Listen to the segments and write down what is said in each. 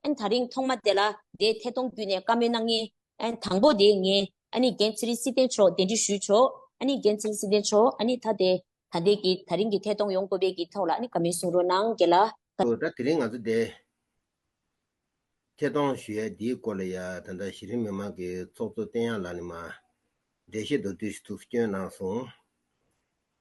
ཨན་ད་རིང་ཐོག་མ་དེ་ལ་དེའི་ཐད་གཏོང་བརྒྱུད་ནས་བཀའ་མོལ་གནང་ངེས། ཨན་དང་པོ་དེ་ངས་ཨ་ནི་འགན་ཚེ་རིང་སྲིད་བསྟན་མཆོག་འདན་དྲི་ཞུས་ཆོག་ཨ་ནི་འགན་ཚེ་རིང་སྲིད་བསྟན་མཆོག་ཨ་ནི་ད་དེ་ད་འདས་ཀྱི་ད་རིང་གི་ཐད་གཏོང་ཡོང་དགོས་པའི་གི་ཐོག་ལ་ཨ་ནི་བཀའ་མོལ་གསུང་རོགས་གནང་གལ་ལ། ཨོ་ད་དེ་རིང་ང་ཚོ་དེའི་ཐད་གཏོང་ཞུ་ཡས་འདིའི་སྐོར་ལ་ཡ་ད་ད་གཞི་རིམ་མི་མང་གི་ཚོགས་གཙོ་བསྟན་དབྱངས་ལགས་ནས་མ་འདས་ཤེས་མདོ་བསྡུས་ཞུ་ཐུགས་སྐྱོན་གནང་སོང།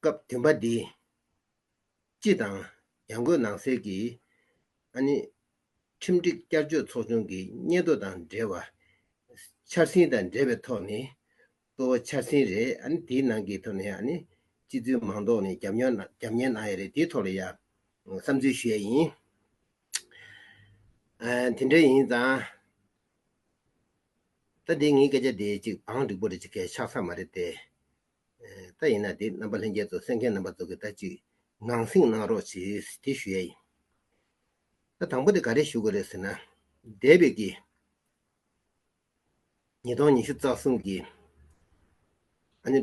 སྐབས་བདུན་པ་འདི། སྤྱི་དང། ཡང་སྒོས་ནང་སེལ་གྱི། ཨ་ནི། ཁྲིམས་སྒྲིག་བསྐྱར་བཅོས་ཚོགས་ཆུང་གི་སྙན་ཐོ་དང་འབྲེལ་བ། འཆར་ཟིན་དང་འབྲེལ་བའི་ཐོག་ནས། གཙོ་བོ་འཆར་ཟིན་རེད་ཨ་ནི་དེའི་ནང་གི་ཐོག་ནས་ཨ་ནི། སྤྱི་འཐུས་མང་ཐོག་ནས་རྒྱབ་ཉོ་རྒྱབ་ཉན་གནང་ཡས་རེད་དེའི་ཐོག་ལ་ཡང། བསམ་ཚུལ་ཞུ་ཡས་ཡིན། དེ་འདྲ་ཡིན་ཙང། ད་འདི་ངའི་སྐད་ཆ་འདི་ཅིག་བང་འགྲིག་པོ་རེད་ཅིག་གས་ཆགས་ས་མ་རེད་དེ། ད་ཡིན་ན་འདི་རྣམ་པ་ལྷན་རྒྱས་རྫོགས་སེམས་མཁན་རྣམ་པ་རྫོགས་ཀྱི་ད་ཅིག་ངང་བསྲིངས་གནང་རོགས་ཞེས་དེ་ཞུ་ཡ་ཡིན། ད་དང་པོ་དེ་ག་རེ་ཞུ་དགོས་རེད་ཟེར་ན། འདས་པའི་གི། ཉིས་སྟོང་ཉི་ཤུ་རྩ་གསུམ་གི། ཨ་ནི།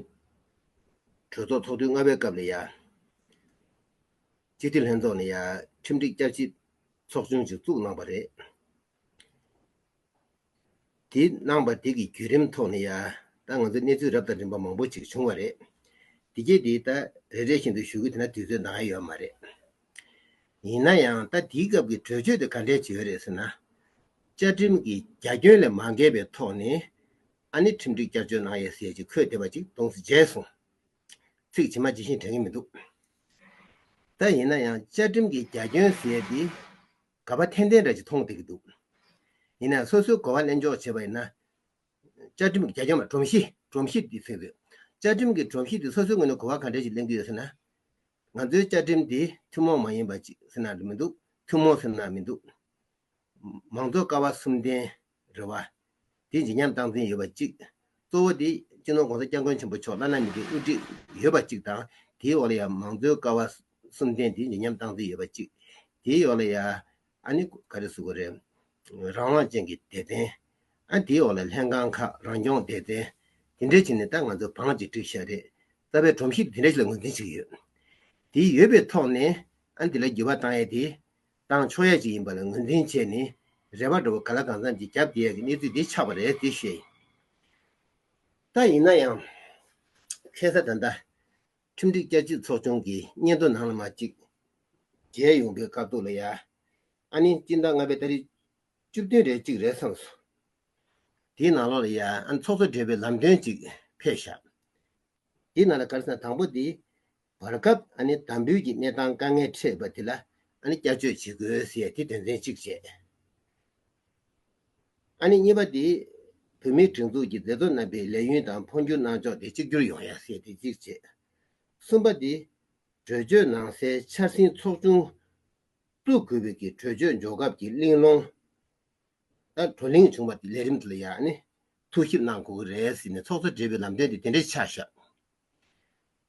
གྲོས་ཚོགས་ཚོགས་དུས་ལྔ་པའི་སྐབས་ལ་ཡ། སྤྱི་འཐུས་ལྷན་ཚོགས་ནས་ཡ་ཁྲིམས་སྒྲིག་བསྐྱར་ཞིབ་ཚོགས་ཆུང་ཞིག་བཙུགས་གནང་བ་རེད། དེ་གནང་བ་དེ་གི་བརྒྱུད་རིམ་ཐོག་ནས་ཡང་ད་ང་ཚོས་གནས་ཚུལ་རབ་དང་རིམ་པ་མང་པོ་ཅིག་བྱུང་བ་རེད། དེ་རྗེས་དེ་ད་རེ་རེ་བཞིན་དུ་ཞུ་གི་དེ་ན་དུས་ཚོད་འདང་ཡོད་མ་རེད། ཡིན་ན་ཡང་ད་དེའི་སྐབས་ཀྱི་གྲོས་ཆོད་དེ་ག་འདྲའི་བྱས་ཡོད་རེད་ཟེར་ན། བཅའ་ཁྲིམས་ཀྱི་རྒྱ་ཁྱོན་ལས་མ་འགལ་བའི་ཐོག་ནས་ཨ་ནི་ཁྲིམས་སྒྲིག་བསྐྱར་བཅོས་གནང་ཡོད་ཟེར་གྱི་འཁོད་བསྡད་པ་ཅིག་དོངས་སུ་བྱས་སོང། ཚིག་ཇི་མ་ཇི་བཞིན་དྲན་གི་མི་འདུག། ད་ཡིན་ན་ཡང་བཅའ་ཁྲིམས་ཀྱི་རྒྱ་ཁྱོན་ཟེར་ཏེ། ག་པ་ཐན་ཐན་རེད་ཅེས་མཐོང་བསྡད་ཀྱི་འདུག་ཡིན་ནའང་སོ་སོའི་གོ་བ་གླེང་ཕྱོགས་བྱེད་པ་ཡིན་ན། བཅའ་ཁྲིམས་ཀྱི་རྒྱ་ཁྱོན་མ་སྒྲོམ་གཞི་སྒྲོམ་གཞི་དེ་ཚིག་རེད། བཅའ་ཁྲིམས་ཀྱི་སྒྲོམ་གཞི་དེ་སོ་སོའི་ངོས་ནས་གོ་བ་ག་འདྲ་ཞིག་གླེང་གི་ཡོད་ཟེར་ན། ང་ཚོའི་བཅའ་ཁྲིམས་དེ་ཐུན་མོང་མ་ཡིན་པ་ཅིག་ཟེར་ན་མི་འདུག་ཐུན་མོང་ཟེར་ན་མི་འདུག། མང་གཙོ་ཀ་བ་གསུམ་ལྡན། རེ་བ། དེ་ཇི་སྙམ་སྟངས་འཛིན་ཡོད་པ་གཅིག། གཙོ་བོ་དེ་སྤྱི་ནོར ྋགོང་ས ྋསྐྱབས་མགོན་ཆེན་པོ་མཆོག་བླ་ན་མེད་ཀྱི་དབུ་ཁྲིད་ཡོད་པ་གཅིག་དང་དེའི་འོག་ལ་ཡང་མང་གཙོའི་ཀ་བ་གསུམ་ལྡན་དེ་ཇི་སྙམ་སྟངས་འཛིན་ཡོད་པ་གཅིག། དེའི་འོག་ལ་ཡང། ཨ་ནི་ག་རེ་ཟུག་གོ་རེད། རང་དབང་ཅན་གྱི་སྡེ་ཚན། ཨ་དེའི་འོག་ལ་ལྷན་ཁང་ཁག་རང་སྐྱོང་སྡེ་ཚན། དེ་འདྲའི་ཆེད་ནས་ད་ང་ཚོ་བང་ཅིག་བསྒྲིགས་ཤག་རེད། རྩ་བའི་སྒྲོམ་གཞི་དེ་འདྲ་ཞིག་ལ་ངོས་འཛིན་བྱེད་ཀྱི་ཡོད། དེ་ཡོད་པའི་ཐོག་ནས་ཨ་འདི་ལ་འགྱུར་བ་བཏང་ཡས་དེ། ཏང་ཕྱོགས་ཡས་ཅིག་ཡིན་པ་ལ་ངོས་འཛིན་བྱས་ནས་རལ་བ་འགྲོ་བ་ག་ལ་གང་འཚམ་གྱིས་རྒྱབ་བསྡད་ཡག་གི་གནས་ཚུལ་འདི་ཆགས་པ་རེད་ཅེས་བཤད། ད་ཡིན་ན་ཡང། ཁེ་ས་ད་ལྟ། ཁྲིམས་སྒྲིག་བསྐྱར་བཅོས་ཚོགས་ཆུང་གི་སྙན་ཐོ་ནང་ལ་མ་གཅིག་རྒྱལ་ཡོང་པའི་དཀའ་སྡུག་ལ་ཡ། ཨ་ནི་སྤྱིར་བདག་ལྔ་པའི་ལྟ་རིགས་བཅུ་བདུན་རེ་གཅིག་རེད་བསམས་སོང། དེའི་ནང་ལོགས་ལ་ཡ་ཨ་ནི་ཚོགས་གཙོ་བགྲེས་པོའི་ལམ་སྟོན་ཅིག་ཕེབས་བཞག། དེའི་ནང་ལ་སྐར་ཚང་དང་པོ་དེ། བར་སྐབས་དམ་འབུལ་གྱི་གནས་སྟངས་དཀའ་ངལ་འཕྲད་པ་དེ་ལ་བསྐྱར་བཅོས་བྱེད་དགོས་ཟེར་ཏེ་དོན་ཚན་གཅིག་བཅད། གཉིས་པ་དེ། བོད་མིའི་སྒྲིག་འཛུགས་ཀྱི་མཛད་གཙོ་རྣམ་པས་ལས་ཡུན་དང་འཕོ་འགྱུར་གནང་ཕྱོགས་དེ་གཅིག་གྱུར་ཡོང་ཡ་ཟེར་ཏེ་གཅིག་བཅད། གསུམ་པ་དེ། གྲོས་ཆོད་ནང་གསལ་འཆར་ཟིན་ཚོགས་ཆུང་བཙུགས་དགོས་པའི་གི་གྲོས་ཆོད་འཇོག་སྐབས་ཀྱི་གླེང་སློང་ལྟར་བགྲོ་གླེང་བྱུང་བ་དེ་ལས་རིམ་དུ་ལ་ཡང་ཐུགས་ཞིབ་གནང་དགོས་ཀྱི་རེད་ཟེར་ནས་ཚོགས་གཙོས་འབྲེལ་བའི་ལམ་སྟོན་དེ་དེ་འདྲའི་ཆ་བཞག།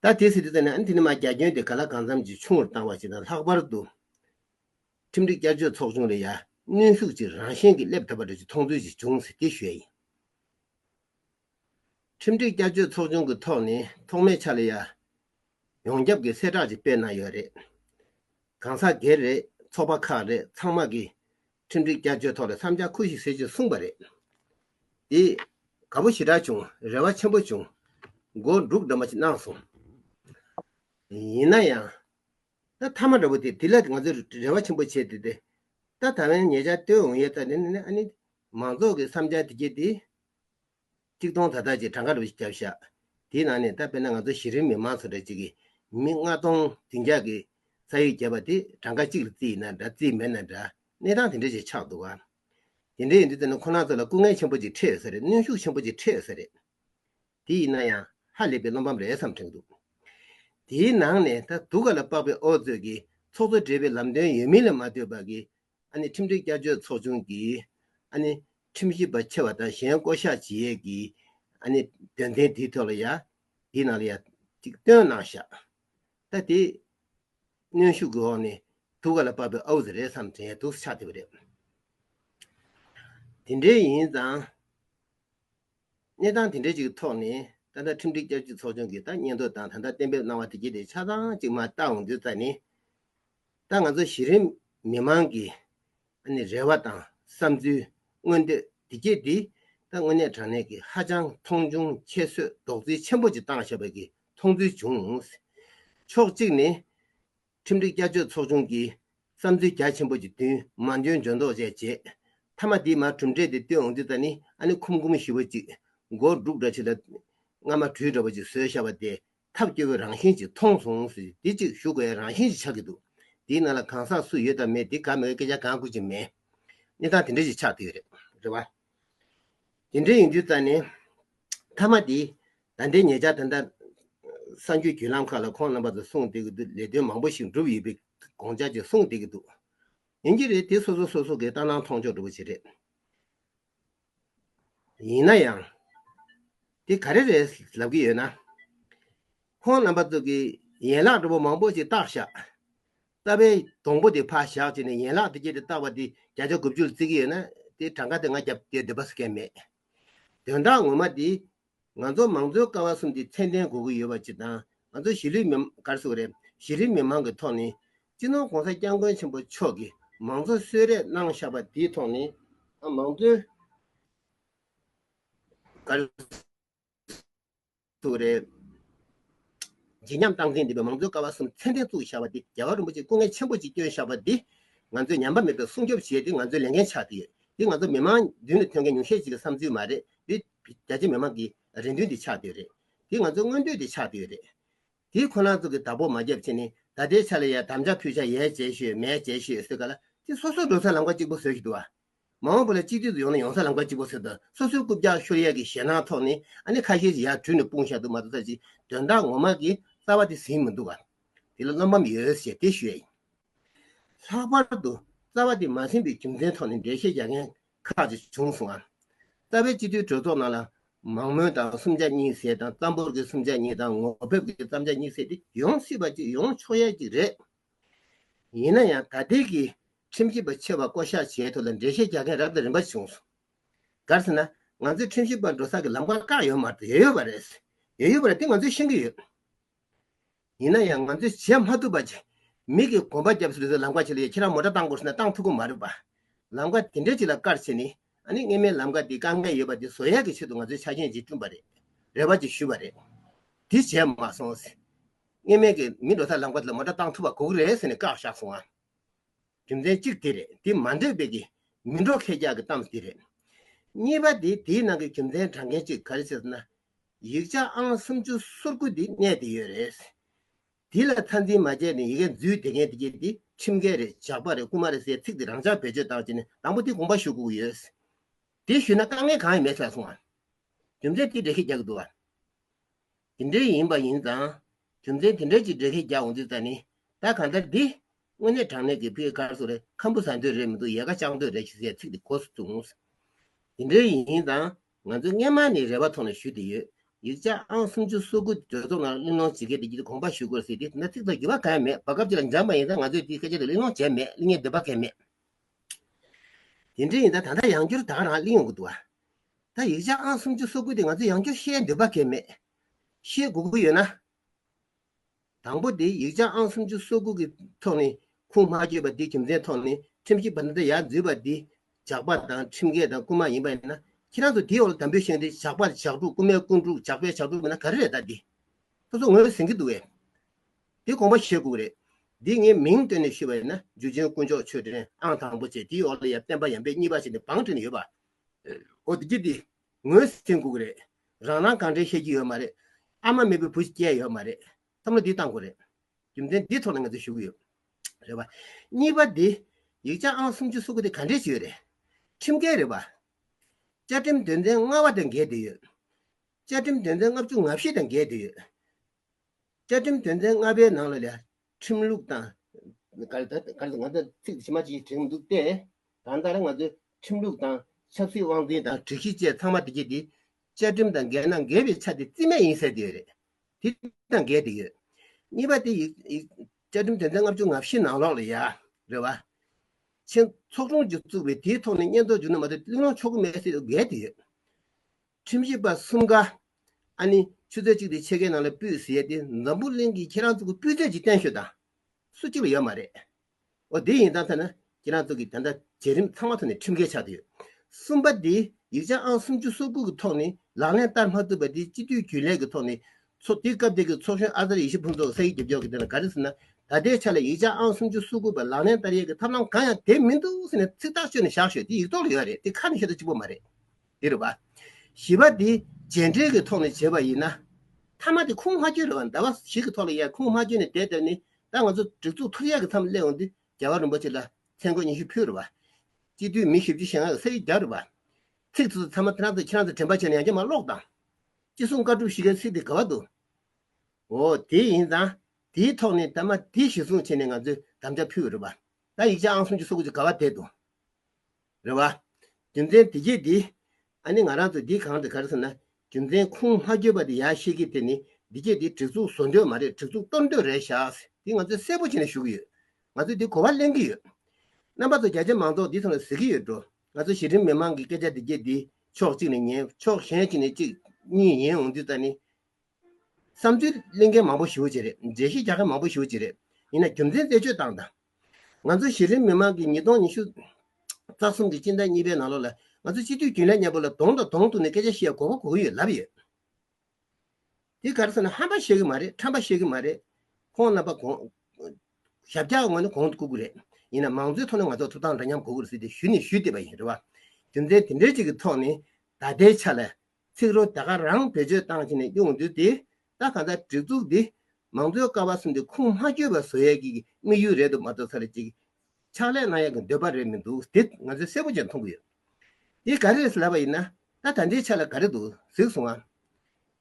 ད་དེ་སྲིད་དུ་ད་ནི་ཨ་འཐི་ནི་མ་རྒྱ་ཁྱོན་དེ་ག་ལ་གང་འཚམ་གྱིས་ཆུང་བར་བཏང་བ་ཞིག་དང་ལྷག་པར་དུ། ཁྲིམས་སྒྲིག་བསྐྱར་བཅོས་ཚོགས་ཆུང་ལས་ཡ་བསྣུན་ཤུགས་ཅིག་རང་བཞིན་གྱིས་སླེབས་ཐུབ་པ་རེད་ཅེས་མཐོང་ཚུལ་ཞིག་བྱུང་ཟེར་གྱི་ཞོལ་ཡིན། ཁྲིམས་སྒྲིག་བསྐྱར་བཅོས་ཚོགས་ཆུང་གི་ཐོག་ནས་ཐོག་མའི་ཆ་ལ་ཡ། ཡོངས་ཁྱབ་ཀྱི་གསལ་བསྒྲགས་ཅིག་སྤེལ་གནང་ཡོད་རེད། གང་ཟག་སྒེར་རེད་ཚོགས་པ་ཁག་རེད་ཚང་མ་གིས་མཐུན་འགྲིག་བསྐྱར་བཅོས་ཐོག་ལ་མཚམས་འཇགས་ཁུལ་ཞིག་བསྲེག་རྒྱུ་གསུངས་པ་རེད། དེས་དགའ་པོ་ཞེ་དྲག་བྱུང་རེ་བ་ཆེན་པོ་བྱུང། སྒོ་འགྲུག་འདྲ་མོ་ཞིག་གནང་སོང། ཡིན་ན་ཡང། ད་མཐའ་མ་འདྲ་བོ་དེ་དེ་ལ་ང་ཚོས་རེ་བ་ཆེན་པོ་བྱས་ཏེ་དེ་ད་ད་བན་ངེད་ཅག་བསྟོད་འོང་ཡོད་ད་ནི་ནི་ཨ་ནི། མང་ཚོགས་ཀྱི་བསམ་འཆར་དེ་གྱིས་དེ། གཅིག་སྟོང་ཐ་དག་ཅིག་གྲངས་ཀ་རུ་བརྒྱབ་བཞག། དེའི་ནང་ནས་ད་དཔེར་ན་ང་ཚོ་གཞི་རིམ་མི་མང་ཚོ་འདྲ་གཅིག་གིས་མི་ལྔ་སྟོང་བདུན་བརྒྱ་གི་ས་ཡོད་བརྒྱབ་པ་དེ་གྲངས་ཀ་གཅིག་ལ་རྩིས་ཡིན་ན་འདྲ་རྩིས་མེད་ན་འདྲ་གནས་སྟངས་དེ་འདྲ་ཞིག་ཆགས་འདུག་ག། དེ་འདྲའི་ཡིན་དུས་ད་ནི་ཁོ་ན་ཚོ་ལ་སྐུ་ངལ་ཆེན་པོ་ཅིག་འཕྲད་ཡོད་ས་རེད་གནོན་ཤུགས་ཆེན་པོ་ཅིག་འཕྲད་ཡོད་ས་རེད། དེ་ཡིན་ན་ཡང་ཧ་ལས་པའི་བློ་ཕམ་རེད་བསམ་དྲན་འདུག་དེའི་ནང་ནས་ད་སྡུག་ག་ལ་དཔག་པའི་ཨོ་རྩོད་ཀྱིས་ཚོགས་གཙོ་བསྒྲེས་པའི་ལམ་སྟོན་ཡོད་མིན་ལ་མ་ལྟོས་པར་གྱི་ཁྲིམས་སྒྲིག་བསྐྱར་བཅོས་ཚོགས་ཆུང་གིས་ཁྲིམས་ཞིབ་པ་ཆེ་བ་དང་གཞན་བསྐོ་གཞག་བྱེད་ཡས་ཀྱི་དོན་ཚན་དེའི་ཐོག་ལ་ཡང་དེའི་ནང་ལ་ཡང་གཅིག་བཏོན་གནང་བཞག་ད་དེ་གནོན་ཤུགས་ཀྱི་འོག་ནས་དུ་ག་ལ་བབས་པའི་ཨ་འུ་ཟེར་རེད་བསམ་དྲན་དུ་ཆགས་བསྡད་པ་རེད། དེ་འདྲའི་ཡིན་ཙང་གནས་སྟངས་དེ་འདྲའི་ཅིག་གི་ཐོག་ནས་ད་ལྟ་ཁྲིམས་སྒྲིག་བསྐྱར་བཅོས་ཚོགས་ཆུང་གིས་ད་སྙན་ཐོ་དང་ད་ལྟ་གཏན་འབེབས་གནང་བ་དེ་གཅིག་དེ་ཆ་ཚང་ཅིག་མ་བཏང་འོས་འདུན་བཏང་ནས་ད་ང་ཚོ་གཞི་རིམ་མི་མང་གི་རེ་བ་དང་བསམ་ཚུལ་མངོན་འདོད་བདེ་སྐྱིད་འདི་ད་དངོས་གནས་དྲང་གནས་ཀྱི་ཧ་ཅང་མཐོང་ཆུང་ཁྱད་གསོད་རྡོག་བརྫིས་ཆེན་པོ་ཅིག་བཏང་བཞག་པ་གི་མཐོང་ཚུལ་བྱུང། ཕྱོགས་གཅིག་ནི། ཁྲིམས་སྒྲིག་བསྐྱར་བཅོས་ཚོགས་ཆུང་གི་བསམ་ཚུལ་རྒྱ་ཆེན་པོ་ཅིག་བསྟུན་མ་འཇོན་འཇོན་མདོག་བཅས་བྱེད། མཐའ་མ་དེའི་མར་གྲུབ་འབྲས་དེ་བཏོན་འོང་དུས་ད་ནི་ཁུམ་ཁུམ་ཞི་བ་ཅིག། སྒོར་སྒྲུག་འདྲ་ཆེ་ལ། རྔ་མ་གྲུས་འདྲ་བོ་ཅིག་བཟོས་བཞག་པ་དེ་ཐབས་སྐྱོ་བོའི་རང་བཞིན་གཅིག་མཐོང་སོང། དེ་གཅིག་ཞུགས་པའི་རང་བཞིན་གཅིག་ཆགས་ཀྱི་འདུག་དེའི་ནང་ལ་གང་ཟག་སུ་ཡོད་དམ་མེད་དེ་དགའ་མི་དགའ་སྐད་ཆ་གང་བསྐུར་གྱི་མེད། གནས་སྟངས་དེ་འདྲ་ཞིག་ཆགས་ཐུབ་ཡོད་རེད། དེ་འདྲ་ཡིན་དུས་རྩ་ནས། མཐའ་མ་དེ། ད་ལྟའི་ངེད་ཅག་ད་ལྟ། གསར་འགྱུར་བརྒྱུད་ལམ་ཁག་ལ་ཁོང་རྣམ་པ་ཚོ་གསུངས་བསྡད་ཀྱི་འདུག་ལས་དོན་མང་པོ་ཞིག་འགྲུབ་ཡོད་པའི་དགོངས་འཆར་ཅིག་གསུངས་བསྡད་ཀྱི་འདུག་ཡིན་གྱི་རེད་དེ་སོ་སོ་སོ་སོ་གའི་ལྟ་སྣང་མཐོང་ཕྱོགས་འགྲུབ་པོ་ཆེ་རེད། ཡིན་ན་ཡང། དེ་ག་རེ་རེད་ལབ་ཀྱི་ཡོད་ན། ཁོང་རྣམ་པ་ཚོ་གི་ཡན་ལག་འགྲོ་པོ་མང་པོ་ཞིག་བཏགས་བཞག། རྟ་པའི་སྡོང་པོ་དེ་ཕར་བཞག་བྱས་ནས་ཡན་ལག་དེ་ཅི་རེད་བཏགས་པ་དེ་བརྒྱ་ཆ་དགུ་བཅུ་ལ་བརྩི་གི་ཡོད་ན་དེའི་གྲངས་ཀ་དེ་ང་རྒྱབ་སྐྱོར་བདེན་པ་བཟོ་མཁན་མེད། དོན་དག་ངོ་མ་དེ་ང་ཚོ་མང་གཙོའི་ཀ་བ་གསུམ་གྱི་ཚད་ལྡན་གོ་གི་ཡོད་པ་ཅིག་དང་ང་ཚོ་གཞིས་ལུས་མི་སྒར་སུ་རེད་གཞི་རིམ་མི་མང་གི་ཐོག་ནས་སྤྱི་ནོར ྋགོང་ས ྋསྐྱབས་མགོན་ཆེན་པོ་མཆོག་གིས་མང་གཙོ་གསོལ་རས་གནང་བཞག་པ་དེའི་ཐོག་ནས་ཨ་མང་གཙོའི་སྒར་སུ་རེད་བརྗིད་ཉམས་སྟངས་འཛིན་ལྡན་པའི་མང་གཙོའི་ཀ་བ་གསུམ་ཚད་ལྡན་བཙུགས་བཞག་པ་དེ་རྒྱ་གར་རིན་པོ་ཆེ་སྐུ་ངལ་ཆེན་པོ་ཅིག་བསྐྱོན་བཞག་པ་འདི་ང་ཚོས་ཉམས་པ་མེད་པའི་སྲུང་སྐྱོབ་བྱས་ཏེ་ང་ཚོའི་ལས་འགན་ཆགས་ཀྱི་ཡོད་འདི་ང་ཚོ་མི་མང་མདུན་ནས་ཐོན་མཁན་ཉུང་ཤས་ཅིག་གི་བསམ་ཚུལ་མ་རེད་འདི། རྒྱ་ཆེའི་མི་མང་གི་རེ་འདུན་དེ་ཆགས་བསྡོད་རེད། དེ་ང་ཚོའི་མངོན་འདོད་དེ་ཆགས་བསྡོད་རེད། དེ་ཁོ་ན་ཚོ་གི་བདག་པོ་མ་རྒྱབ་ཕྱིན་ནི་ད་ལྟའི་ཆ་ལ་ཡ་དམ་ཆ་ཕུད་ཆ་ཡས་བྱས་ཤོས་མས་བྱས་ཤོས་བཟོས་ག་ལ་དེ་སོ་སོ་འགྲོ་སའི་ལམ་ཁ་གཅིག་པོ་བཟོས་ཤིག་འདུག་ཨ། མ་འོངས་པ་ལ་གཅིག་སྡུད་དུ་ཡོང་ན་ཡོང་སའི་ལམ་ཁ་གཅིག་པོ་བཟོས་དང་སོ་སོའི་རྐུབ་བཀྱག་ཤོར་ཡས་ཀྱི་ཞེད་སྣང་ཐོག་ནས་ཨ་ནི་ཁ་ཤས་ཀྱི་ཡར་དྲུད་ནས་སྤུངས་བཞག་འདུག་མ་རྩ་ཅིག་དོན་དག་ངོ་མ་གི་རྩ་བ་དེ་ཟིན་མི་འདུག་ཨ། དེ་ལ་བློ་ཕམ་ཡོད་ཞེས་དེ་ཞུ་ཡས་ཡིན། ལྷག་པར་དུ་རྩ་བ་དེ་མ་ཟིན་པའི་རྒྱུ་མཚན་ཐོག་ནས་འགྲེལ་བཤད་རྒྱག་མཁན་ཁག་ཅིག་བྱུང་སོང་ངམ། རྩ་བའི་སྤྱི་འཐུས་གྲོས་ཚོགས་ནང་ལ། མང་མོས་དང་སུམ་ཆ་གཉིས་བསྲེས་དང་རྩམ་ཕོར་གྱི་སུམ་ཆ་གཉིས་དང་ངོ་ཕེབས་ཀྱི་རྩམ་ཆ་གཉིས་བསྲེས་ཏེ་ཡོང་སྲིད་པ་ཅིག་ཡོང་ཆོག་ཡ་ཅིག་རེད། ཡིན་ན་ཡང་ད་ལྟའི་གི་ཁྲིམས་ཞིབ་པ་ཆེ་བ་བསྐོ་གཞག་བྱས་ཐོག་ལ་འགྲེལ་བཤད་རྒྱག་མཁན་རབ་དང་རིམ་པ་ཞིག་བྱུང་སོང། གར་ཟེར་ན། ང་ཚོའི་ཁྲིམས་ཞིབ་པ་འགྲོ་ས་ཀྱི་ལམ་ཁ་བཀག་ཡོད་མ་རེད། ཡོད་ཡོད་པ་རེད། ཡོད་ཡོད་པ་རེད་དེ་ང་ཚོས་ཤེས་ཀྱི་ཡོད། ཡིན་ན་ཡང་ང་ཚོས་བྱེད་མ་ཐུབ་པ་ཅིག་མིག་གིས་གོམ་པ་རྒྱབ་ཟེར་བཟོ་ལམ་ཁ་ཕྱེ་ལོ་ཡ་ཁྱེད་རང་མོ་ཏྲ་བཏང་དགོས་ཟེར་ན་བཏང་ཐུབ་ཀི་མ་རེད་པ། ལམ་ཁ་དེ་འདྲའི་ཅིག་ལ་དཀར་ཆེ་ནི་ཨ་ནི་སྔས་མའི་ལམ་ཁ་དེ་དཀའ་ངལ་ཡོད་པ་དེ་བཟོ་ཡག་གི་ཆེད་དུ་ང་ཚོའི་ཆ་རྐྱེན་ཅིག་བསྐྲུན་པ་རེད། རེ་བ་ཅིག་ཞུས་པ་རེད། དེ་བྱས་མ་སོང། སྔས་མའི་གིས་མི་འགྲོ་ས་ལམ་ཁ་དེ་ལ་མོ་ཏྲ་བཏང་ཐུབ་པ་གོ་གི་རེད་ཟེར་ནས་བཀག་བཞག་སོང་ང། རྒྱུ་མཚན་གཅིག་དེ་རེད་དེ་མ་འདོད་པའི་གིས་མི་འགྲོ་ཁེ་རྒྱག་གི་གཏམ་དེ་རེད། གཉིས་པ་དེ་དེའི་ནང་གི་རྒྱུ་མཚན་དྲང་མཁན་ཅིག་ག་རེ་བྱེད་ཟེར་ན་ཡིག་ཆ་ཨང་སུམ་ཅུ་སོ་དགུ་འདི་གནས་དེ་ཡོད་རེད། འདི་ལ་མཐའ་འཛིན་མ་བྱས་ནས་ཡི་གེ་འཛུལ་དེ་མཁན་དེ་ཁྱེད་དེ་ཁྲིམས་འགལ་རེད་ཇག་པ་རེད་རྐུ་མ་རེད་ཟེར་ཚིག་དེ་རང་ཅག་བེད་སྤྱོད་བཏང་བྱས་ནས་དང་པོ་དེ་དགོངས་པ་ཞུ་དགོས་ཀྱི་ཡོད། དེ་ཞུས་ན་དཀའ་ངལ་གང་ཡང་མེད་ཟེར་སོང་ཨ། རྒྱུ་མཚན་དེ་འདྲས་ཁྱེད་རྒྱག་གི་འདུག་ཨ། དེ་འདྲས་ཡིན་པ་ཡིན་ཙང་རྒྱུ་མཚན་དེ་འདྲས་ཅིག་འདྲས་ཁྱེད་རྒྱག་འོང་དུས་ཙང་ནི་ད་གང་ལྟར་འདི། དངོས་གནས་དྲང་གནས་ཀྱི་ཕི་ཨེ་ཁར་སོ་རེད་ཁམ་བུ་ཟ་འདོད་རེད་མི་འདུག་ཡལ་ག་བཅག་འདོད་རེད་ཞེས་ཟེར་ཚིག་དེ་གོ་སོང། དེ་འདྲས་ཡིན་ཙང་ང་ཚོས་སྔན་མ་ནས་རེ་བ་ཐོག་ནས་ཞུས་ཏེ་ཡོད། ཡིག་ཆ་ཨང་སུམ་ཅུ་སོ་དགུ་གྲོས་ཚོགས་ནང་གླེང་སློང་བྱེད་མཁན་དེ་ཀྱིས་དགོངས་པ་ཞུ་དགོས་ཟེར་ཏེ་ན་ཚིག་དང་འགྱུར་བ་གང་ཡང་མེད་བར་སྐབས་གཅིག་ལ་འབྱམས་པ་ཡིན་ཙང་ང་ཚོས་དེའི་སྐད་ཆ་དེ་གླེང་སློང་བྱས་མེད་གླེང་ཉན་འདོད་པ་ཁེལ་མེད། དེ་འདྲ་ཡིན་ད་ད་ལྟ་ཡང་བསྐྱར་དང་རང་གླེང་ཡོང་གི་འདུག་ཨ། ད་ཡིག་ཆ་ཨང་སུམ་ཅུ་སོ་དགུ་དེ་ང་ཚོས་ཡང་བསྐྱར་བཤད་འདོད་པ་ཁེལ་མེད། ཤེས་དགོས་ཀྱི་ཡོད་ན། དང་པོ་དེ་ཡིག་ཆ་ཨང་སུམ་ཅུ་སོ་དགུ་གི་ཐོག་ནས་ཁུངས་མ་བཅོས་པ་དེའི་རྒྱུ་མཚན་ཐོག་ནས་ཁྲིམས་ཞིབ་པ་འདི་འདྲ་ཡར་འཛུལ་བ་འདི་ཇག་པ་དང་ཁྲིམས་འགལ་དང་རྐུ་མ་ཡིན་པ་ཡིན་ན་ཁྱེད་རང་ཚོ་དེའི་འོག་ལ་དམ་འབུལ་ཤོད་དེ་ཇག་པ་ཇག་དྲུག་རྐུ་མའི་རྐུན་དྲུག་ཇག་པའི་ཇག་དྲུག་མིན་ན་ག་རེ་རེད་ད་འདི་སོ་སོ་ངོས་ཟིན་གི་འདུག་བས་དེ་དགོངས་པ་བཞེས་དགོས་རེད་འདི་ངས་མིང་བཏོན་ནས་ཞུས་པ་ཡིན་ན་འཇུ་ཆེན་དཀོན་མཆོག་ཆོས་སྒྲོན་ཨང་དང་པོ་བཅས་དེའི་འོག་ལ་ཡང་སྤེན་པ་ཡམ་པའི་གཉིས་པ་བཅས་ནས་བང་བསྒྲིགས་ནས་ཡོད་པ་འོ་དེ་རྒྱུ་དེ་ངོས་ཟིན་སྒུག་རེད། རང་རང་གང་དྲན་ཤེས་ཀྱི་ཡོད་མ་རེད། ཨ་མ་མེད་པའི་བུ་ཞིག་སྐྱེས་ཡོད་མ་རེད། བསམ་བློ་འདི་གཏང་དགོས་རེད། རྒྱུ་མཚན་འདི་ཐོག་ནས་ང་ཚོས་ཞུ་གི་ཡོད། རེད་པ། གཉིས་པ་འདི། ཡིག་ཆ་ཨང་སུམ་ཅུ་སོ་དགུ་དེ་ག་འདྲའི་ཞིག་ཡོད་རེད། ཁྲིམས་འགལ་རེད་པ། བཅའ་ཁྲིམས་དོན་ཚན་ལྔ་བ་དང་འགལ་འདུས་ཡོད། བཅའ་ཁྲིམས་དོན་ཚན་ལྔ་བཅུ་ང་བཞི་དང་འགལ་འདུས་ཡོད། བཅའ་ཁྲིམས་དོན་ཚན་ལྔ་པའི་ནང་ལ་ལས་ཁྲིམས་ལུགས་དང། གར་དང། ང་ཚོ་ཚིག་ཇི་མ་ཇི་བཞིན་བྲིས་འདུག་སྟེ། གང་ལྟར་ང་ཚོའི་ཁྲིམས་ལུགས་དང། ཆབ་སྲིད་དབང་འཛིན་དང་དྲི་གཞི་བཅས་ཚང་མ་དེ་རྗེས་དེའི་བཅའ་ཁྲིམས་དང་འགལ་ན་འགལ་བའི་ཆ་དེ་རྩིས་མེད་ཡིན་ཟེར་གྱི་ཡོད་རེད། དེ་དང་འགལ་ཏེ་ཡོད། གཉིས་པ་དེ་ཡིག་བཅའ་ཁྲིམས་དོན་ཚན་ལྔ་བཅུ་ང་བཞི་ནང་ལོགས་ལ་ཡ་རེད་བ། ཆེན་ཚོགས་དྲུང་ཆེ་བཙུགས་པའི་དེའི་ཐོག་ནས་སྙན་ཐོ་འབྱོར་ནི་མ་གཏོགས་གླིང་སློང་ཆོག་གི་མེད་ཟེར་འགལ་ཏེ་ཡོད། ཁྲིམས་ཞིབ་པ་གསུམ་ཀ། ཨ་ནི་ཆུ་ཚོད་གཅིག་དེ་ཕྱེད་ཀའི་ནང་ལ་སྤུད་ཟེར་ཡས་དེ་འཛམ་བུ་གླིང་གི་ཁྱེད་རང་ཚོ་གི་སྤུད་ཚད་ཀྱི་བརྟན་ཤོས་དང་སུ་གཅིག་ལ་ཡོད་མ་རེད། འོ་དེ་ཡིན་ཙང་ཐ་ན་ཁྱེད་རང་ཚོ་གི་དེ་འདྲ་བྱས་རིམ་ཚང་མ་ཐོག་ནས་ཁྲིམས་འགལ་ཆགས་དུ་ཡོད། གསུམ་པ་དེ་ཡིག་ཆ་ཨང་སུམ་ཅུ་སོ་དགུ་གི་ཐོག་ནས་ལག་ལེན་བསྟར་མ་ཐུབ་པ་དེ་སྤྱི་འཐུས་རྒྱུན་ལས་ཀྱི་ཐོག་ནས་ཚོགས་དེ་སྐབས་དེ་གི་ཚོགས་གཞོན་ཨ་ཙར་ཡེ་ཤེས་ཕུན་ཚོགས་ས་ཡིག་རྒྱབ་སྐྱོར་གྱི་དོན་ལ་ག་རེ་ཟེར་ན་ད་ལྟའི་ཆ་ལ་ཡིག་ཆ་ཨང་སུམ་ཅུ་སོ་དགུ་པ་ལག་ལེན་བསྟར་ཡས་ཀྱི་ཐབས་ལམ་གང་ཡང་དེབ་མི་འདུག་ཟེར་ནས་ཚིག་ཐག་གཅོད་ནས་བཞག་ཤོས་དེ་ཡིག་ཐོག་ལ་ཡོད་རེད་དེ་ཁ་ནས་ཤོད་ཐབས་གཅིག་པོ་མ་རེད། འདིར་བ། བཞི་པ་འདི་རྗེས་འབྲེལ་གྱི་ཐོག་ནས་བྱེད་པ་ཡིན་ན། མཐའ་མ་དེ་ཁུངས་མ་བཅོས་རེད་བ། ཟླ་བ་ཞིག་གི་ཐོག་ལ་ཡང་ཁུངས་མ་བཅོས་ནས་དེ་ལྟར་ནི་ད་ང་ཚོ་སྒྲིག་འཛུགས་ཐུགས་ཡག་གི་མཚམས་སླེབས་འོང་དུས་རྒྱལ་བ་རིན་པོ་ཆེ་ལ་མཚན་གོས་ཉི་ཤུ་ཕུལ་རེད་བ། སྤྱི་འཐུས་མི་བཞི་བཅུ་ཞེ་ལྔ་གི་ས་ཡིག་རྒྱག་རེད་བ། ཚིག་དེ་ཚོ་ཚང་མ་ཁྱེད་རང་ཚོས་ཁྱེད་རང་ཚོས་དྲན་པ་བྱས་ནས་ཡང་བསྐྱར་མ་ཀློག་དང། ཅི་གསུང་བཀའ་སྒྲུབ་བཞི་ཀའི་ཚིག་དེ་ག་བ་འདུག་འོ། དེ་ཡིན་ཙང་དེའི་ཐོག་ནས་ད་མ་དེ་གཞིར་བཟུང་བྱས་ནས་ང་ཚོས་དམ་བཅའ་ཕུལ་བ་རེད་བ། ད་ཡིག་ཆ་ཨང་གསུམ་བཅུ་སོ་དགུ་ཅིག་ག་བ་དེ་འདུག། རེད་བ། རྒྱུ་མཚན་དེ་རྗེས་འདི། ཨ་ནི་ང་རང་ཚོ་འདི་གང་དུ་གར་ཟེར་ན་རྒྱུ་མཚན་ཁུངས་མ་བརྗོད་པ་དེ་ཡག་ཤེས་ཀི་དེ་ནི་འདི་རྗེས་འདི་བྲེག་ཚུགས་བཟོ་འདོད་མ་རེད་བྲེག་ཚུགས་གཏོར་འདོད་རེད་ཤག་འདི་ང་ཚོས་གསལ་པོ་བྱེད་ནས་ཞུ་གི་ཡོད་ང་ཚོས་འདི་གོ་བ་ལེན་གི་ཡོད་རྣམ་པ་ཚོ་བརྒྱ་ཆ་མང་ཚོགས་འདི་ཚང་ལ་ཟེར་གི་ཡོད་འགྲོ་ང་ཚོ་གཞི་རིམ་མི་མང་གི་སྐད་ཆ་དེ་རྗེས་འདི་ཕྱོགས་གཅིག་ནས་ཉན་ཕྱོགས་གཞན་གཅིག་ནས་གཅིག་གཉིས་ཡིན་འོང་རྒྱུ་ཙ་ནི། བསམ་ཚུལ་གླེང་མཁན་མང་པོ་ཞུ་བྱེད་རེད་འགྲེལ་བཤད་རྒྱག་མཁན་མང་པོ་ཞུ་བྱེད་རེད་ཡིན་ན་རྒྱུ་མཚན་རྩད་གཅོད་བཏང་དང། ང་ཚོ་གཞི་རིམ་མི་མང་གི་ཉིས་སྟོང་ཉི་ཤུ་རྩ་གསུམ་གྱི་སྤྱི་ཟླ་གཉིས་པའི་ནང་ལོ་ལ་ང་ཚོ་སྤྱི་འཐུས་རྒྱུན་ལས་ཉན་པོ་ལ་དོང་དང་དོང་དུ་ནས་སྐད་ཆ་བཤད་དགོས་པ་གོ་གི་ཡོད་ལབ་ཡོད། དེ་ག་རེ་ཟེར་ན་ཧམ་པ་བཤད་གི་མ་རེད་ཁྲམ་པ་བཤད་གི་མ་རེད་ཁོང་རྣམ་པ་གོང་ཞབས་རྒྱག་དགོས་ན་གོང་དུ་བཀུག་གི་རེད་ཡིན་ན་མང་གཙོའི་ཐོག་ནས་ང་ཚོ་ཐུགས་དང་འདྲ་མཉམ་གོ་གི་རེད་ཟེར་ཏེ་ཞུ་ནི་ཞུས་བསྡད་པ་ཡིན་རེད་བ། རྒྱུ་མཚན་དེ་འདྲའི་ཅིག་གི་ཐོག་ནས་ད་ལྟའི་ཆ་ལ་ཚིག་རོ་དེ་ག་རང་བེད་སྤྱོད་བཏང་བྱས་ནས་དབྱུང་འདུས་ཏེ་ད་ག་འདྲ་སྒྲིག་འཛུགས་འདི་མང་གཙོའི་ཀ་བ་གསུམ་དེ་ཁུངས་མ་བཅོལ་བ་བཟོ་ཡག་གི་དམིགས་ཡུལ་རེད་འདུག་མ་གཏོགས་ཚར་རེ་ཅིག་ཕྱག་ལས་གནང་ཡག་གི་འདོད་པ་རེད་མི་འདུག་དེ་ང་ཚོས་གསལ་པོ་ཅན་མཐོང་གི་ཡོད་དེ་ག་རེ་ལབ་པ་ཡིན་ན་ད་ད་འདྲའི་ཆ་ལ་ག་རེ་འདུག་གཟིགས་སོང་ང་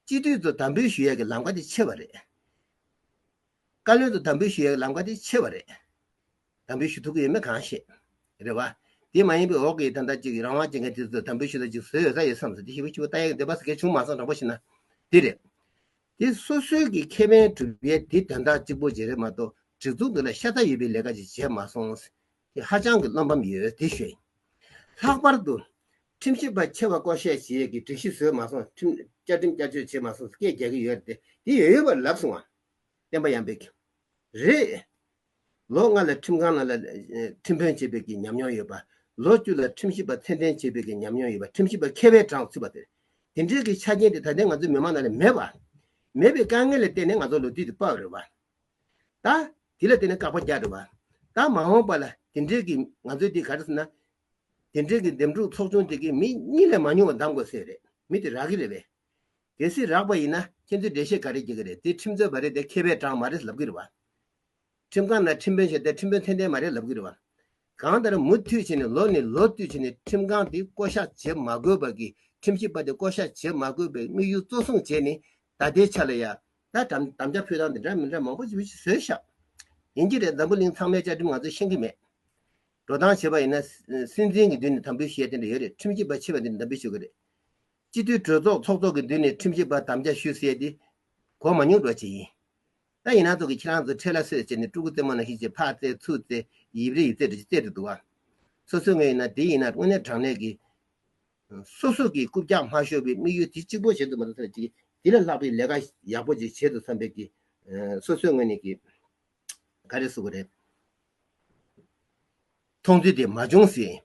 སྤྱི་འཐུས་ཚོ་དམ་འབུལ་ཞུ་ཡག་གི་ལམ་ཀ་དེ་ཕྱེ་བ་རེད། བཀའ་བློན་དུ་དམ་འབུལ་ཞུ་ཡའི་ལམ་ཀ་དེ་ཆེ་བ་རེད། དམ་འབུལ་ཞུ་ཐུབ་ཀྱི་ཡོད་མེད་གང་ཤེས། རེད་བ། དེ་མ་ཡིན་པའི་འོག་གི་ད་ལྟ་ཅིག་རང་དབང་བྱེད་མཁན་དེ་ཚོ་དམ་འབུལ་ཞུ་ད་ཅིག་བཟོས་ཡོད་ས་ཡོད་བསམས་སོ་དེ་ཞིབ་ཕྱི་བོ་ལྟ་ཡག་གི་འདོད་པ་ཟེར་མཁན་བྱུང་མ་སོང་དྲང་པོ་བྱས་ན་དེ་རེད། དེ་སོ་སོའི་གི་ཁེ་ཕན་གྲུབ་ཡས་དེ་དོན་དག་ཅིག་པོ་བྱས་རེད་མ་གཏོགས་སྒྲིག་འཛུགས་འདི་ལ་ཤ་ཚ་ཡོད་པའི་ལས་ཀ་ཅིག་བྱས་མ་སོང། དེ་ཧ་ཅང་གི་བློ་འབམ་ཡོད་དེ་ཞོད་ཡིན། ལྷག་པར་དུ། ཁྲིམས་ཞིབ་པ་ཆེ་བ་བསྐོ་བཤད་བྱེད་ཡས་གི་སྒྲིག་གཞི་བཟོས་མ་སོང་ཁྲིམས་བཅའ་ཁྲིམས་བསྐྱར་བཅོས་བྱས་མ་སོང་སྐད་རྒྱག་གི་ཡོད་རེད་དེ་དེ་ཡོད་ཡོད་པ་ལབ་སོང་བ། བསྟན་པ་ཡང་འབེབས་ཀྱི་རེད། ལོ་ལྔ་ལ་ཁྲིམས་ཁང་ནང་ལ་ཁྲིམས་དཔོན་བྱེད་པའི་གི་ཉམས་མྱོང་ཡོད་པ། ལོ་བཅུ་ལ་ཁྲིམས་ཞིབ་པ་ཚད་ལྡན་བྱེད་པའི་གི་ཉམས་མྱོང་ཡོད་པ་ཁྲིམས་ཞིབ་པ་མཁས་པའི་གྲངས་ཚུད་པ་དེ་དེ་འདྲའི་གི་ཆ་རྐྱེན་དེ་ད་ལྟའི་ང་ཚོའི་མི་དམངས་ནང་ལ་མེད་པ། མེད་པའི་དཀའ་ངལ་ལ་བརྟེན་ནས་ང་ཚོ་ལོ་དུས་དེ་དཔའ་བ་རེད་བ། ད། དེ་ལ་བརྟེན་ནས་བཀག་པ་རྒྱག་རེད་བ། ད་མ་འོངས་པ་ལ་དེ་འདྲའི་གི་ང་ཚོའི་དེ་ག་རེ་ཟེར་ན། དེ་འདྲའི་གི་འདེམས་སྒྲུག་ཚོགས་ཆུང་དེ་གི་མི་གཉིས་ལས་མ་ཉུང་བ་འདང་དགོས་སེ་རེད་མི་དེ་རག་གི་རེད་བས། གལ་སྲིད་རག་པ་ཡིན་ན་ཁྱེད་ཚོས་འགྲེལ་བཤད་ག་རེ་བགྱི་གི་རེད་དེ་ཁྲིམས་རྩོད་པ་རེད་དེ་མཁས་པའི་གྲངས་མ་རེད་ལབ་གི་རེད་བ། ཁྲིམས་ཁང་ནང་ཁྲིམས་དཔོན་བྱས་ཏེ་ཁྲིམས་དཔོན་ཐན་ཐན་མ་རེད་ལབ་གི་རེད་བ། གང་ལྟར་མུ་མཐུད་བྱས་ནས་ལོ་ནས་ལོ་བསྟུད་བྱས་ནས་ཁྲིམས་ཁང་དེ་བསྐོ་གཞག་བྱེད་མ་དགོས་པ་གི་ཁྲིམས་ཞིབ་པ་དེ་བསྐོ་གཞག་བྱེད་མ་དགོས་པའི་དམིགས་ཡུལ་གཙོ་བཟུང་བྱས་ནས་ད་ལྟའི་ཆ་ལ་ཡ། ད་དམ་དམ་བཅའ་ཕུལ་སྟངས་དེ་འདྲ་མི་འདྲ་མང་པོ་བྱེད་ཤེས་བཟོས་ཤག། ཡིན་གྱི་རེད་འཛམ་བུ་གླིང་ཚང་མའི་བཅའ་ཁྲིམས་ང་ཚོས་ཤེས་ཀྱི་མེད། འགྲོ་སྟངས་བྱེད་པ་ཡིན་ན་སྲིད་འཛིན་གྱི་མདུན་ནས་དམ་འབུལ་བྱས་དེ་འདྲ་ཡོད་རེད་ཁྲིམས་ཞིབ་པ་ཆེ་བ་འདི་ནས་དམ་འབུལ་བྱེད་དགོས་རེད། སྤྱི་འཐུས་གྲོས་ཚོགས་ཚོགས་གཙོ་གི་མདུན་ནས་ཁྲིམས་ཞིབ་པར་དམ་བཅའ་ཞུས་ཟེར་ཏེ། གོ་མ་མྱོང་འགྲོ་བྱེད་ཡིན། ད་ཡིན་ན་ཚོགས་ཀྱི་ཁྱེད་རང་ཚོ་ཁྲལ་ལ་སོས་བྱས་ནས་སྤྲུལ་སྐུ་རྩེད་མོ་ནང་ཤི་བྱེད་ཕག་རྩེད་ཚུར་རྩེད་ཡིབ་རེ་ཡིབ་རྩེད་འདྲ་བྱེད་རྩེད་དུ་འདུག་ཨ། སོ་སོའི་ངོས་ཡིན་ན་དེ་ཡིན་ན་དངོས་གནས་དྲང་གནས་ཀྱི། སོ་སོ་གིས་རྐུབ་བཀྱག་མ་ཤོར་བའི་དམིགས་ཡུལ་དེ་གཅིག་པོ་བྱེད་དུ་མ་འདུག་བསམ་གྱི་དེ་ལས་ལྷག་པའི་ལས་ཀ་ཡག་པོ་ཅིག་བྱེད་དུ་བསམ་པས་ཀྱི། སོ་སོའི་ངོས་ནས་ཀྱི། ག་རེ་བསུ་གི་རེད། མཐོང་ཚུལ་དེ་མ་བྱུང་ཟེར།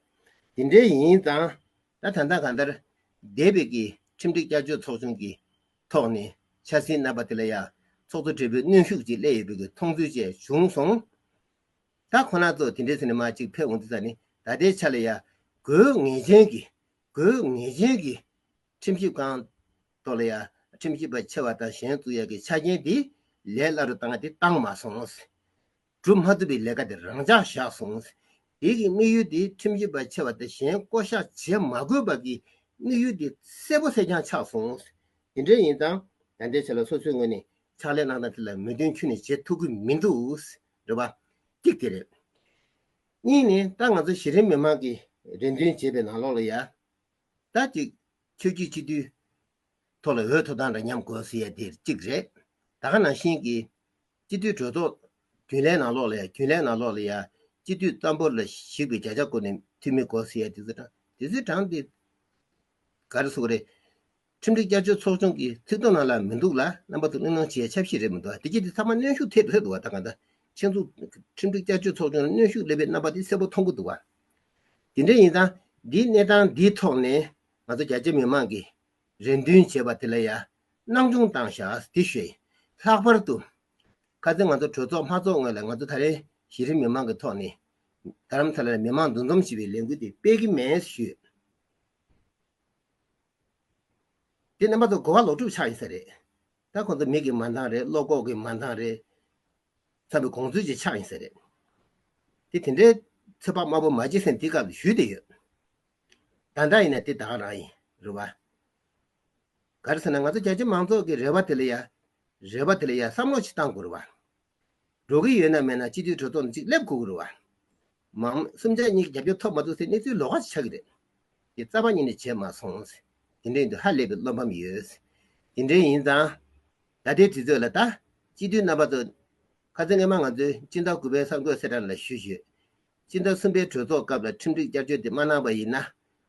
དེ་འདྲའི་ཡིན་ཙང། ད་ད་ལྟ་གང་ལྟར་འདས་པའི་གི་ཁྲིམས་སྒྲིག་བསྐྱར་བཅོས་ཚོགས་ཆུང་གི་ཐོག་ནས་འཆར་ཟིན་གནང་པ་དེ་ལ་ཡང་ཚོགས་གཙོ་སྦྲེལ་པོའི་གནོན་ཤུགས་ཅིག་སླེ་ཡོད་པའི་གི་མཐོང་ཚུལ་བཅས་བྱུང་སོང། ད་ཁོ་ན་ཚོ་དེ་འདྲའི་ཚེ་ནས་མ་ཅིག་ཕེབས་འོང་དུས་ད་ནི་ད་ལྟའི་ཆ་ལ་ཡང་དགོས་ངེས་ཅན་གི་དགོས་ངེས་ཅན་གི་ཁྲིམས་ཞིབ་ཁང་ཐོག་ལ་ཡང་ཁྲིམས་ཞིབ་པ་ཆེ་བ་དང་གཞན་བཙུགས་ཡག་གི་ཆ་རྐྱེན་དེ་ལས་སླ་རུ་བཏང་གི་དེ་བཏང་མ་སོང། སྒྲུབ་མ་ཐུབ་པའི་ལས་ཀ་དེ་རང་འཇགས་བཞག་སོང། རྒྱལ་གྱི་དམིགས་ཡུལ་དེ་ཁྲིམས་རྒྱུད་པར་ཆེ་བ་དང་གཞན་བསྐོ་བཞག་བྱེད་མ་དགོས་པ་གི་དམིགས་ཡུལ་དེ་གསལ་པོ་གསལ་རྐྱང་ཆགས་སོང། དེ་འདྲ་ཡིན་ཙང་ད་ལྟའི་ཆ་ལ་སོ་སོའི་ངོས་ནས་ཕྱག་ལས་གནང་སྟངས་དེ་ལ་མོས་མཐུན་ཁྱོད་ནས་བྱེད་ཐུབ་ཀྱི་མི་འདུག་རེད་པ། གཅིག་དེ་རེད། གཉིས་ནི་ད་ང་ཚོ་གཞི་རིམ་མི་མང་གི་རེ་འདུན་བྱེད་པའི་ནང་ལོགས་ལ་ཡ། ད་ཅིག་ཆོས་རྒྱུད་སྤྱི་འཐུས་ཐོག་ལ་འོས་ཐོབ་སྟངས་འདྲ་མཉམ་དགོས་ཟེར་ཡ་དེར་གཅིག་རེད། ད་ཁ་ནང་བཞིན་གྱི། སྤྱི་འཐུས་གྲོས་ཚོགས། རྒྱུན་ལས་ནང་ལོག་ལ་ཡ་རྒྱུན་ལས་ནང་ལོག་ལ་ཡ། སྤྱི་འཐུས་རྩ་འབོར་ལ་ཞིག་པའི་བརྒྱ་ཆ་བསྐོར་ནས་འཐུས་མི་དགོས་ཟེར་ཡ་དེ་ཚོའི་གྲངས་དེ་ཚོའི་གྲངས་དེ། ག་རེ་སོགས་རེད། ཁྲིམས་སྒྲིག་བསྐྱར་བཅོས་ཚོགས་ཆུང་གི་ཚིག་དོན་ནང་ལ་མི་འདུག་ལ་རྣམ་པ་ཚོ་གླེང་སློང་བྱེད་ཡ་ཆབ་སྲིད་རེད་མི་འདུག་ཨ་དེ་ཀྱི་དེ་ཚང་མ་གནོན་ཤུགས་ཐེབས་ཕོད་འདུག་ཨ་ད་ག་འདྲ། ཆེ་མཚུངས། ཁྲིམས་སྒྲིག་བསྐྱར་བཅོས་ཚོགས་ཆུང་ལ་གནོན་ཤུགས་སླེབས་པའི་རྣམ་པ་དེ་གསལ་པོ་མཐོང་གི་འདུག་ཨ། དེ་འདྲ་ཡིན་ཙང། འདིའི་གནས་སྟངས་འདིའི་ཐོག་ནས། ང་ཚོ་རྒྱ་ཆེ་མི་མང་གིས་རེ་འདུན་བྱས་པ་དེ་ལ་ཡང་སྣང་ཆུང་བཏང་ཤག་དེ་ཤོད། ལྷག་པར་དུ། ཁ་ཚེ་ང་ཚོ་གྲོས་ཚོགས་མ་ཚོགས་སྔོན་ལ་ང་ཚོ་ད་རེས་གཞི་རིམ་མི་མང་གི་ཐོག་ནས། དྷརམ་ས་ལ་ནས་མི་མང་འདུ་འཛོམས་བྱེད་པའི་ལས་འགུལ་དེ་སྤེལ་གི་མེད་ཞུས། དེ་ནས་མ་ཚོགས་གོ་བ་ལོག་སྒྲུབ་ཆགས་ཡོད་ས་རེད། ད་ཁོང་ཚོ་མིག་གི་མ་འདང་རེད་བློ་ལྐོག་གི་མ་འདང་རེད། བསམ་པའི་གོང་ཚོད་ཅིག་ཆགས་ཡིན་ས་རེད། དེ་དེ་འདྲའི་ཚོད་དཔག་དམའ་པོ་མ་བྱེད་སེམས་དེ་སྐབས་ལ་ཞུས་བསྡད་ཡོད། ད་འདྲ་ཡིན་ན་དེ་བདག་རང་ཡིན་རུ་བ། ག་རེ་ཟེར་ན་ང་ཚོ་རྒྱ་ཆེ་མང་ཚོགས་ཀྱི་རེ་བ་དེ་ལ་ཡ། རེ་བ་དེ་ལ་ཡ་བསམ་བློ་ཞིག་བཏང་དགོས་རུ་བ། འགྲོ་གི་ཡོད་ན་མེད་ན་སྤྱི་འཐུས་གྲོས་ཚོགས་ནས་ཅིག་སླེབས་དགོས་ཀྱི་རུ་བ། མ་འོངས་སུམ་ཆ་གཉིས་ཀྱི་རྒྱབ་སྐྱོར་ཐོབ་མ་ཐུབ་སའི་གནས་ཚུལ་ལོགས་ཁ་ཞིག་ཆགས་ཀྱི་རེད། དེ་རྩ་བ་ཉིད་ནས་བྱས་མ་སོང། དེ་འདྲའི་འདུག་ཧ་ལས་པའི་བློ་ཕམ་ཡོད། དེ་འདྲའི་ཡིན་ཙང། ད་ལྟའི་དུས་ཚོད་ལ་ལྟ། སྤྱི་འཐུས་རྣམ་པ་ཚོ། ཁ་ཚོན་ངེས་མ་ང་ཚོས་སྤྱི་ཟླ་དགུ་པའི་གསར་འགོད་གསལ་བསྒྲགས་ལ་ཞུ་ཞུ། སྤྱི་ཟླ་གསུམ་པའི་གྲོས་ཚོགས་སྐབས་ལ་ཁྲིམས་སྒྲིག་བསྐྱར་བཅོས་དེ་མ་གནང་པ་ཡིན་ན།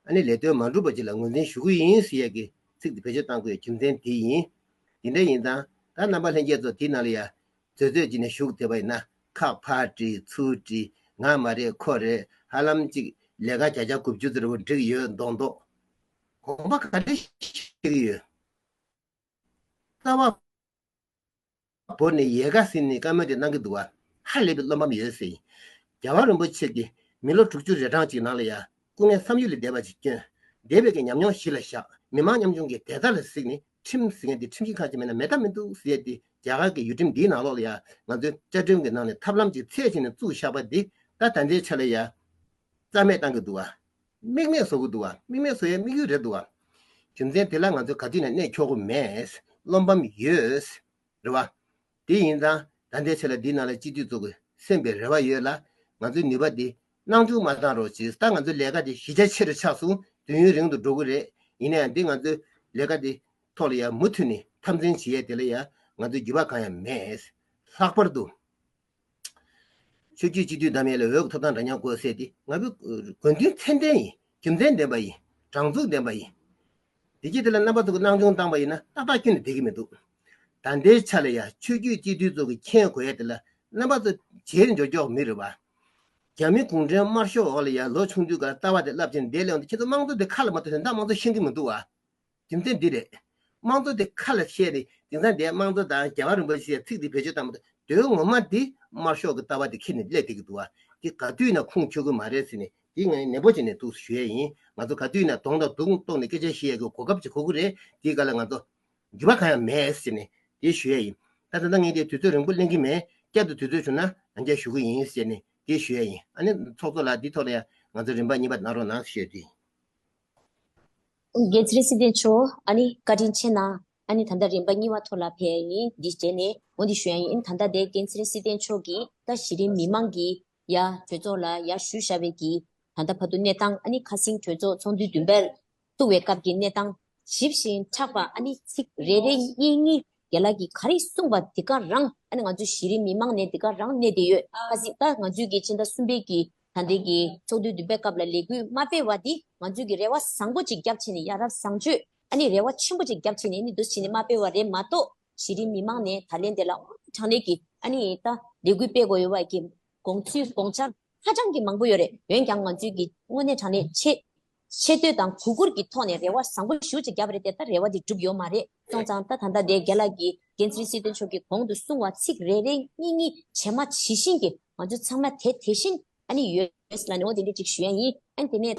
ཨ་ནི་ལས་དོན་མ་འགྲུབ་པ་ཅིག་ལ་ངོས་འཛིན་ཞུ་གི་ཡིན་ཞེས་ཡ་གི་ཚིག་དེ་བེད་སྤྱོད་བཏང་དགོས་རྒྱུ་མཚན་དེ་ཡིན། དེ་འདྲ་ཡིན་ཙང་ད་རྣམ་པ་ལྷན་རྒྱས་ཚོ་དེའི་ནང་ལ་ཡ་བཟོད་བཟོད་ཅིག་ནས་ཞུགས་ཐེབས་པ་ཡིན་ན་ཁག་ཕར་བྲིས་ཚུར་བྲིས་ང་མ་རེད་ཁོ་རེད་ཧ་ལམ་ཅིག་ལས་ཀ་བྱ་བྱ་དགུ་བཅུ་ཙིར་བུར་འགྲིག་ཡོད་མདོག་མདོག་དགོངས་པ་ག་རེ་བཞེས་ཀྱི་ཡོད། རྩ་བ། བོར་ནས་ཡལ་ག་ཟིན་ནས་སྐར་མ་དེ་སྣང་གི་འདུག་བ། ཧ་ལས་པའི་བློ་ཕམ་ཡོད་ཟེར། རྒྱལ་བ་རིན་པོ་ཆེ་གིས་མི་ལོ་དྲུག་ཅུ་རེ་གྲངས་ཅིག་ནང་ལ་ཡང་སྐུ་ངལ་བསམ་ཡུལ་ལས་འདས་པ་ཅིག་བསྐྱོན། འདས་པའི་ཉམས་མྱོང་གཞི་ལ་བཞག་མི་དམངས་ཉམ་ཆུང་གི་དད་ལྟ་ལ་གཟིགས་ནས་ཁྲིམས་ཟེར་མཁན་དེ་ཁྲིམས་ཞིབ་ཁང་ཆེ་མིན་ན་མེད་ཐབས་མི་འདུག་ཟེར་ཏེ་རྒྱ་གར་གྱི་ཡུལ་ཁྲིམས་འདིའི་ནང་ལོགས་ལ་ཡང་ང་ཚོའི་བཅའ་ཁྲིམས་ཀྱི་ནང་ནས་ཐབས་ལམ་གྱི་ཚད་ཆེ་ནས་བཙུགས་བཞག་པ་འདི་ད་ད་ལྟའི་ཆ་ལ་ཡང་རྩ་མེད་བཏང་གི་འདུག་བ། དམིགས་མེད་བཟོ་གི་འདུག་ཨ་དམིགས་མེད་བཟོ་ཡའི་དམིགས་ཡུལ་རེད་འདུག་ཨ། རྒྱུ་མཚན་དེ་ལ་ང་ཚོ་ག་དུས་ནས་གནས་འཁྱོག་གི་མེད། བློ་ཕམ་ཡོད། རེད་བ། དེ་ཡིན་ཙང་ད་འདས་ཆོད་ལ་འདི་ནང་ལ་སྤྱི་འཐུས་གཙོ་དགོས་སེམས་པའི་རེ་བ་ཡོད་ལ། ང་ཚོའི་ནུས་པ་དེ་སྣང་ཆུང་མ་བཏང་རོགས་ཇི་ལྟར་ང་ཚོའི་ལས་ཀ་དེ་གཞི་རྒྱ་ཆེ་རུ་ཆགས་སོང་དུས་ཡུན་རིང་དུ་འགྲོ་གི་རེད་ཡིན་ན་ཡང་འདི་ང་ཚོའི་ལས་ཀ་དེ་ཐོག་ལ་ཡང་མུ་མཐུད་ནས་འཐབ་འཛིང་བྱེད་ཡས་དེ་ལ་ཡང་ང་ཚོའི་འགྱུར་བ་གང་ཡང་མེད། ལྷག་པར་དུ། ཆོས་རྒྱུད་སྤྱི་འཐུས་བདམས་ཡས་ལས་འོས་ཐོབ་སྟངས་འདྲ་མཉམ་བཀོད་སད་དེ། ང་ཕོད་དགོན་འདུས་མཚན་ལྡན་ཡིན། རྒྱུ་མཚན་ལྡན་པ་ཡིན། དྲང་ཚུགས་ལྡན་པ་ཡིན། དེ་རྗེས་དེ་ལ་རྣམ་པ་ཚུགས་ཀྱི་སྣང་ཆུང་བཏང་པ་ཡིན་ན་ཏག་ཏག་སྐྱོན་དུ་འདེད་ཀྱི་མི་འདུག། ད་ལྟའི་ཆ་ལ་ཡང་ཆོས་རྒྱུད་སྤྱི་འཐུས་ཚོགས་ཀྱི་མཁྱེན་དགོས་ཡས་དེ་ལ་རྣམ་པ་ཚུགས་བྱེད་འཇོར་འཇོག་མི་རུང་བ། རྒྱ་མི་གུང་ཁྲན་དམར་ཤོག་འོག་ལ་ཡང་ལོ་ཆུང་དུས་ཀར་ལྟ་བ་དེ་རླབས་ཆེན་འདེད་སླེ་འོང་དུ་ཁྱེད་ཚོ་དམངས་གཙོ་དེ་ཁ་ལ་མ་ཐོབ་ཞིང་འདང་མང་གཙོ་ཤེས་ཀྱི་མི་འདུག་བ། རྒྱུ་མཚན་འདི་རེད། དམངས་གཙོ་དེ་ཁ་ལ་བཤད་ནས་དེང་སང་འདས་དམངས་གཙོ་དང་རྒྱལ་བ་རིན་པོ་ཆེ་ཟེར་ཚིག་འདི་བེད་སྤྱོད་བཏང་པ་དོན་ངོ་མ་འདི་དམར་ཤོག་གི་ལྟ་བ་དེ་ཁྱེར་ནས་སླེབས་བསྡད་ཀྱི་འདུག་བ་འདི་ག་དུས་ན་ཁུངས་འཁྱོལ་དགོས་མ་རེད་ཟེར་ནས་འདི་ང་ནན་པོ་བྱས་ནས་འདུག་ཞུ་ཡས་ཡིན་ང་ཚོ་ག་དུས་ན་གདོང་དང་གདུགས་གཏོགས་ནས་སྐད་ཆ་ཤི་ཡས་ཀྱི་གོ་སྐབས་ཅིག་གོ་གི་རེད་འདི་ག་ལ་ང་ཚོ་འགྱུར་བ་གང་ཡང་མེད་ཟེར་ནས་འདི་ཞུ་ཡས་ཡིན་ད་ད་ད་ངས་འདི་དུས་ཚོད་རིང་པོ་གླེང་གི་མེད་བསྐྱར་དུ་དུས་ཚོད་བྱུང་ན་ཡང་བསྐྱར་ཞུ་གི་ཡིན་ཟེར་ནས་འདི་ཞུ་ཡས་ཡིན་ཨ་ནི་ཚོགས་གཙོ་ལགས་འདི་ཐོག་ལ་ཡང་ང་ཚོ་རིན་པ་གཉིས་པ་གནང་རོགས་གནང་ཞུ་ཡས་ཡིན། རྒྱལ་ཚིག་སྲིད་ལྡན་ཆོས་ཨ་ནི་བཀའ་དྲིན་ཆེ་ན་ཨ་ནི་ད་ལྟ་རིམ་པ་གཉིས་བ་ཐོག་ལ་ཕེབས་ཡ་ཡིན་འདི་བྱས་ནས་འོ་འདི་ཞུ་ཡ་ཡིན་ད་ལྟ་དེ་རྒན་ཚིག་སྲིད་ལྡན་ཆོས་ཀྱིས་ད་གཞི་རིམ་མི་མང་གི་ཡ་གྲོས་ཚོགས་ལ་ཡ་ཞུ་བཞག་པའི་གི་ད་ལྟ་བར་དུ་གནས་སྟངས་ཨ་ནི་ཁ་སིང་གྲོས་ཚོགས་ཚོགས་འདུའི་བདུན་པར་བཏུ་བའི་སྐབས་ཀྱི་གནས་སྟངས་ཞིབ་བཞིན་ཕྲག་པ་ཨ་ནི་ཚིག་རེ་རེ་གཉིས་གཉིས་རྒྱ་ལགས་ཀྱིས་ག་རེ་གསུངས་པ་དེ་ག་རང་ཨ་ནི་ང་ཚོའི་གཞི་རིམ་མི་མང་ནས་དེ་ག་རང་གནས་དེ་ཡོད་ཁ་སིང་ད་ང་ཚོའི་གི་ཕྱི་ཟླ་གསུམ་པའི་གི་ད་འདོད་ཀྱི་ཚོགས་འདུའི་བདུན་པའི་སྐབས་ལ་ལས་འགུལ་མ་སྤེལ་བ་འདི་ང་ཚོས་ཀྱི་རེ་བ་བཟང་པོ་ཅིག་རྒྱབ་ཕྱེ་ནས་ཡ་རབས་བཟང་སྤྱོད་ཨ་ནི་རེ་བ་ཆེན་པོ་ཅིག་རྒྱབ་ཕྱེ་ནས་ནི་འདུ་བྱེད་ནས་མ་སྤེལ་བ་རེད་མ་གཏོགས་གཞི་རིམ་མི་མང་ནས་ད་ལན་དེ་ལ་དངོས་གནས་དྲང་གནས་ཀྱི་ཨ་ནི་ད་ལས་འགུལ་སྤེལ་དགོས་ཡོད་བ་ཀྱི་དགོངས་ཚུལ་དགོངས་འཆར་ཧ་ཅང་གི་མང་པོ་ཡོད་རེད་འོན་ཀྱང་ང་ཚོས་ཀྱི་དངོས་གནས་དྲང་གནས་ཆེད། ཆེ་བསྟོད་དང་གུས་བཀུར་གྱི་ཐོག་ནས་རེ་བ་བཟང་པོ་ཞུ་ཅིག་བརྒྱབ་པ་རེད་དེ་ལྟར་རེ་བ་དེ་འགྲུབ་ཡོད་མ་རེད་སོང་ཙང་ད་ད་ལྟ་དེ་རྒན་ལགས་ཀྱིས་འགན་འཛིན་སྲིད་དོན་མཆོག་གིས་གོང་དུ་གསུང་བ་ཚིག་རེ་རེ་གཉིས་གཉིས་ཇེ་མ་ཇི་བཞིན་གྱི་ང་ཚོ་ཚང་མ་དེ་དེ་བཞིན་ཨ་ནི་ཡོད་ལ་ནི་འོ་དེ་འདྲས་ཅིག་ཞུ་ཡ་ཡིན་ཨ་ནི་དེ་ནས།